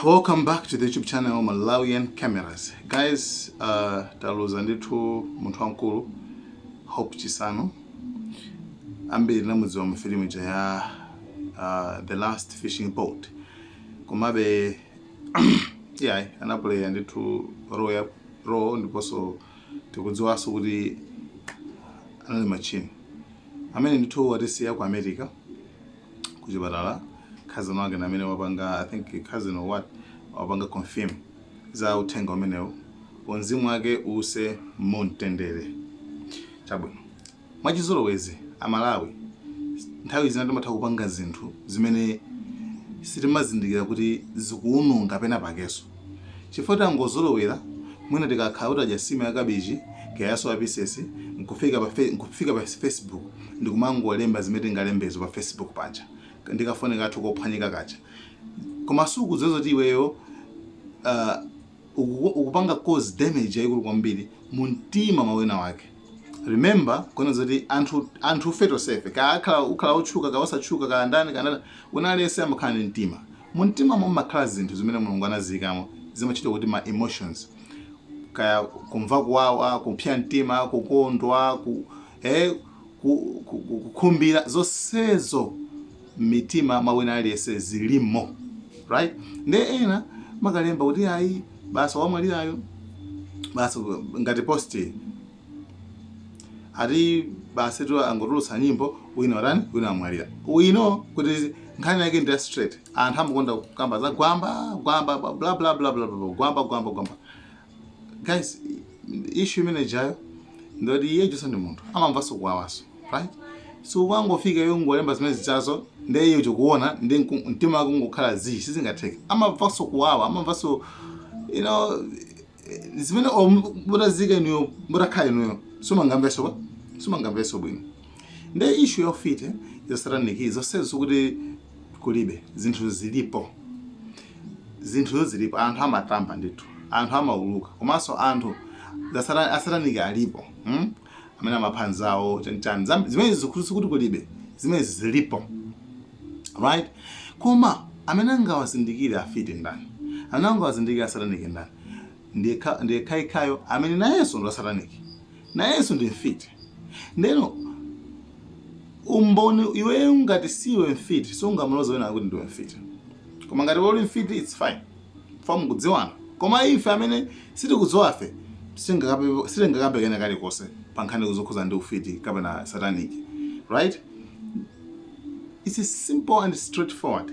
Welcome back to the YouTube channel Malawian Cameras. Guys, uh, taluza ndithu munthu wamkulu Hope Chisanu. Ambiri tinamudziwa mu filimu ija ya uh, The Last Fishing Boat. Komabe yeah, anaplaya ndithu role ya role ndiponso tikudziwanso kuti anali martini. Amene ndithu watisiya ku America. kuchipatala cousin wake ndi amene wapanga i think cousin or what wapanga confirm za uthenga umenewo mzimu wake uwuse mumtendere chabwino mwachizolowezi amalawi nthawi zina timatha kupanga zinthu zimene sitimazindikira kuti zikuwononga pena pakenso chifukwa tangozolowera mwina tikakhala kuti tadya nsima ya kabichi kaya ya soya pieces nkufika pa fe- nkufika pa facebook ndikumangolemba zimene tingalembezo pa facebook paja ndikafoni kathu kophwanyika kaja koma sukudziwa zoti iweyo uh, ukuku- ukupanga cause damage yayikulu kwambiri mu mtima mwa wina wake remember kona zoti anthu anthu ife tonsefe kaya akhala ukhala otchuka kaya osatchuka kaya ndani kaya ndani wina aliyense amakhala ndi mtima mu mtimamo mumakhala zinthu zimene mulungu anaziyikamo zimatchedwa kuti ma emotions kaya kumva kuwawa kupsa mtima kukondwa ku, eh, ku, ku, ku, kukhumbira zonsezo mmitima mwa wina aliyense zilimo right nde ena amakalemba kuti ayi basa wamwalirayo basa ngati post ati basa tu angotulutsa nyimbo wina watani wina wamwalira we know kuti nkhani yake ndi ya straight anthu amakonda kukamba za gwamba gwamba bla bla bla bla bla, gwamba gwamba gwamba guys issue imene ijayo ndoti iye ujanso ndi munthu amamvanso kuwawanso right so ukangofika iwe ungolemba zimene zijazo ndiye iye uja akuona ndi nku- mtima wake ungokhala zii sizingatheke amamvanso kuwawa amamvanso you know zimene or mutadziika inuyo mutakhala inuyo simungamvenso ba simungamvenso bwino nde issue ya ufiti za satanic zonsezo sikuti kulibe zinthu zilipo zinthuzo zilipo anthu amatamba ndithu anthu amauluka komanso anthu zasatani asataniki alipo hmm? amene amapha nzawo chani chani Zam- zimenezi sikuti kuti kulibe zimenezi zilipo right koma amene angawazindikire afiti ndani amene angawazindikire asataniki ndani ndiyekhaikhayo amene nayenso ndi asataniki nayenso ndi mfiti ndeno umboni iweyo ngati siwe mfiti sungamuloze wina kuti ndiwe mfiti koma ngati uli mfiti its fine chifukwa mukudziwana koma ife amene sitikudziwafe sitingakape- sitingakambe kena kalikonse pa nkhani zokhudzana ndi ufiti kapena satanic right it's simple and straightforward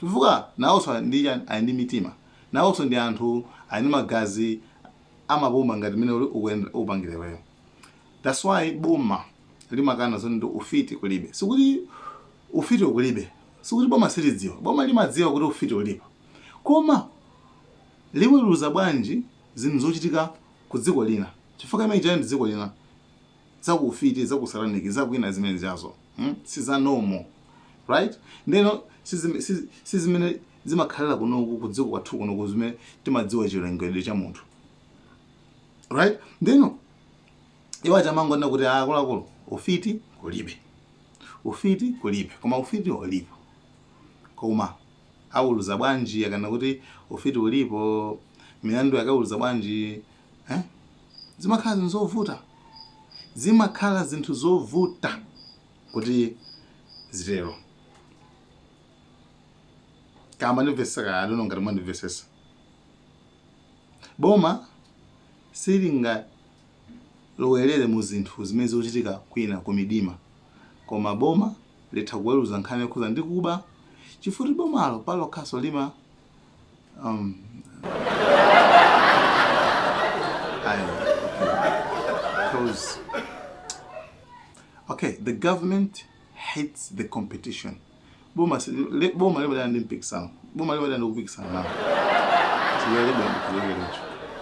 Chifukwa nawonso ali ndi chani? Ali ndi mitima. Nawonso ndi anthu, ali ndi magazi amapuma ngati mmene ukupangira iweyo. That's why boma limakana zoti ufiti kulibe. Sikuti ufitiwo kulibe, sikuti boma silidziwa. Boma limadziwa kuti ufiti ulipo. Koma liweruza bwanji zinthu zochitika kudziko lina? Chifukwa imene ija ndi dziko lina. zaku ufiti zaku satanic zakwina zimene zijazo mm? siza normal right ndeno sizime- sizi- sizimene zimakhalira kunoku kudziko kwathu kunoku zimene timadziwa chilengedwe cha munthu right ndeno iwo achamangonena kuti akuluakulu ufiti kulibe ufiti kulibe koma ufiti ulipo koma aweruza bwanji akanena kuti ufiti ulipo milandu yake aweruza bwanji eh? zimakhala zinthu zovuta zimakhala zinthu zovuta kuti zitero kaya mwandimvesesa kaya adono ngati mwandimvesesa boma silingalowerere mu zinthu zimene zikuchitika kwina ku midima koma boma litha kuweruza nkhani yokhudza ndi kuba chifukwa choti bomalo palokhanso lima um, I, because okay the government hates the competition boma si- li- boma limadana ndi mpikisano boma limadana ndi kupikisana nawo siyalibwa ndikulekerecho